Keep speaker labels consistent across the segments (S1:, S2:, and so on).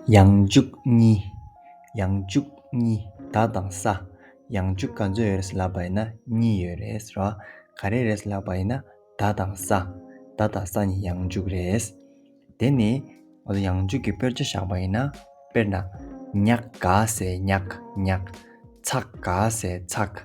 S1: ཡང་བཅུ་གཉིས། ཡང་བཅུ་གཉིས་བདག་དང་ས། ཡང་བཅུ་ག་ཚོད་ཡོད་རེད་ཟེར་ལབ་པ་ཡིན་ན་གཉིས་ཡོད་རེད་ཟེར་བ། ག་རེ་རེད་ཟེར་ལབ་པ་ཡིན་ན་བདག་དང་ས། བདག་དང་ས་གཉིས་ཡང་བཅུ་རེད། དེ་ནས་ང་ཚོ་ཡང་བཅུ་གྱི་དཔེར་བྱ་བཞག་པ་ཡིན་ན་དཔེར་ན། ཉག་ག་ཟེར་ཉག་ཉག། ཚག་ག་ཟེར་ཚག།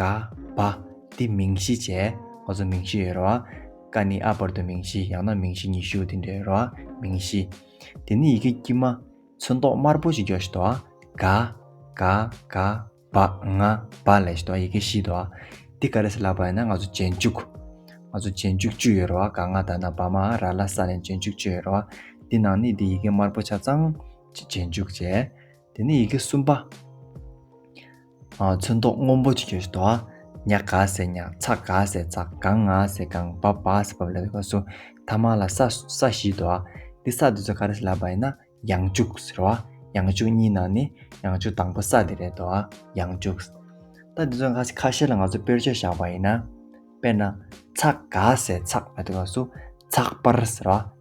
S1: ག་པ། འདི་མིང་གཞི་བྱས། ཁོ་ཚོ་མིང་གཞི་ཡོད་རེད་བ། ཀ་ནི་ཨ་བར་དུ་མིང་གཞི་ཡང་ན་མིང་གཞི་ཉི་ཤུ་དེ་འདྲ་ཡོད་རེད་བ། མིང་གཞི། དེ་ནི་ཡི་གེ་དཀྱུས་མ། ཚོན་མདོག་དམར་པོ་ཞིག་འཇོག་བྱེད་དོ། ག། ག། ག། བ། ང། བ། ལས་བྱེད་དོ། ཡི་གེ་བཞི་དོ། འདི་ག་རེད་ཟེར་ལབ་པ་ཡིན་ན་ང་ཚོ་རྗེས་འཇུག། ང་ཚོ་རྗེས་འཇུག་བཅུ་ཡོད་རེད་བ། ག་ང་ད་ན་བ་མ་ར་ལ་ས་ནས་རྗེས་འཇུག་བཅུ་ཡོད་རེད་བ། འདི་ནང་ནི་འདི་ཡི་གེ་དམར་པོ་ཆ་ཚང། རྗེས་འཇུག་བྱས། དེ་ནི་ཡི་གེ་གསུམ་པ། ཚོན་མདོག་སྔོན་པོ་ཆེ་ཞེས་བཟློ། ཉག་ག་ཟེར་ཉག། ཚག་ག་ཟེར་ཚག། གང་ང་ཟེར་གང། བབ་བ་ཟེར་བབ། ལ་ལ་བ་སུ། ཐ་མ་ལ་ས་སུ། ས་གཞི་བཟློ། འདི་ས་འདི་ཚོ་ག་རེ་ཟེར་ལབ་པ་ཡིན་ན། ཡང་བཅུག་ཟེར་བ། ཡང་བཅུག་གཉིས་ནང་ནི། ཡང་བཅུག་དང་པོ་ས་འདི་རེད་བཟློ། ཡང་བཅུག། ད་འདི་ཚོ་ཁ་བཤད་ལ་ང་ཚོ་དཔེར་བརྗོད་བཞག་པ་ཡིན་ན། དཔེར་ན། ཚག་ག་ཟེར་ཚག། ལ་ལ་བ་སུ། ཚག་པར་ཟེར་བ།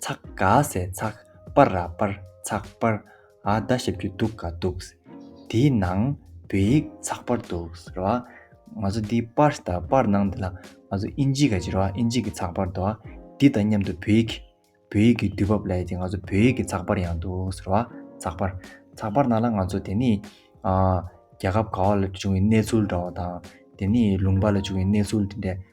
S1: ཚག་ག་སེ་ཚག་པར་ར་པར་ཚག་པར་ཨ་ད་ཞབས་ཀྱི་འདུག་ག་འདུག་དེའི་ནང་བོད་ཡིག་ཚག་པར་འདུག་ར་བ་ང་ཚོ་འདི་པར་ས་དང་པར་ནང་འདི་ལ་ང་ཚོ་ཨིན་ཇི་ག་ཇི་ར་བ་ཨིན་ཇི་གི་ཚག་པར་འདུག་ག་འདི་དང་མཉམ་དུ་བོད་ཡིག་བོད་ཡིག་གི་དུས་བབ་ལ་ཡ་ཅིག་ང་ཚོ་བོད་ཡིག་གི་ཚག་པར་ཡང་འདུག་ར་བ་ཚག་པར་ཚག་པར་ནང་ལ་ང་ཚོ་དེ་ནས་རྒྱལ་ཁབ་ག་བ་ལ་བྱུང་བའི་གནས་ཚུལ་འདྲ་བ་དང་དེ་ནས་ལུང་པ་ལ་བྱུང་བའི་གནས་ཚུལ་དེ་འདྲ།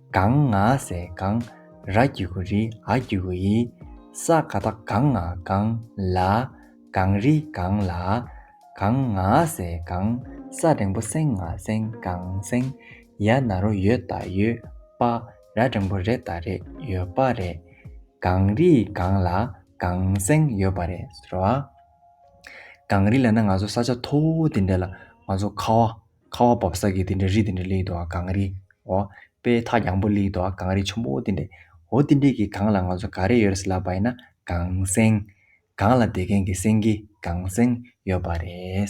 S1: གངས་ང་སེ་གངས་ར་གི་གུ་རི་ཨ་གི་གུ་ཡི། ས་ག་ད་གངས་ང་གངས་ལ། གངས་རི་གངས་ལ། གངས་ང་སེ་གངས་ས་འབྲིང་པོ་སེང་ང་སེང་གངས་སེང། ཡ་ན་རོ་ཡོད་ད་ཡོད་པ། ར་འབྲིང་པོ་རེད་ད་རེད་ཡོད་པ་རེད། གངས་རི་གངས་ལ་གངས་སེང་ཡོད་པ་རེད་ཟེར་བ། གངས་རི་ལ་ན་ང་ཚོ་ས་ཆ་མཐོ་བོ་དེ་འདྲ་ལ་ང་ཚོ་ཁ་བ། ཁ་བ་བབས་ས་གི་དེ་འདྲའི་རི་དེ་འདྲའི་ལེགས་འདུག་ཨ་གངས་རི། འོ། དཔེ་ཐག་ཡངས་པོ་ལེགས་འདུག་ཨ་གངས་རི་ཆུ་མོ་དེ་འདྲའི། འོ་དེ་འདྲའི་གི་གངས་ལ་ང་ཚོ་ག་རེ་ཡོད་རེད་ཟེར་ལབ་པ་ཡིན་ན་གངས་སེང། གངས་ལ་དེད་མཁན་གྱི་སེང་གེ་གངས་སེང་ཡོད་པ་རེད།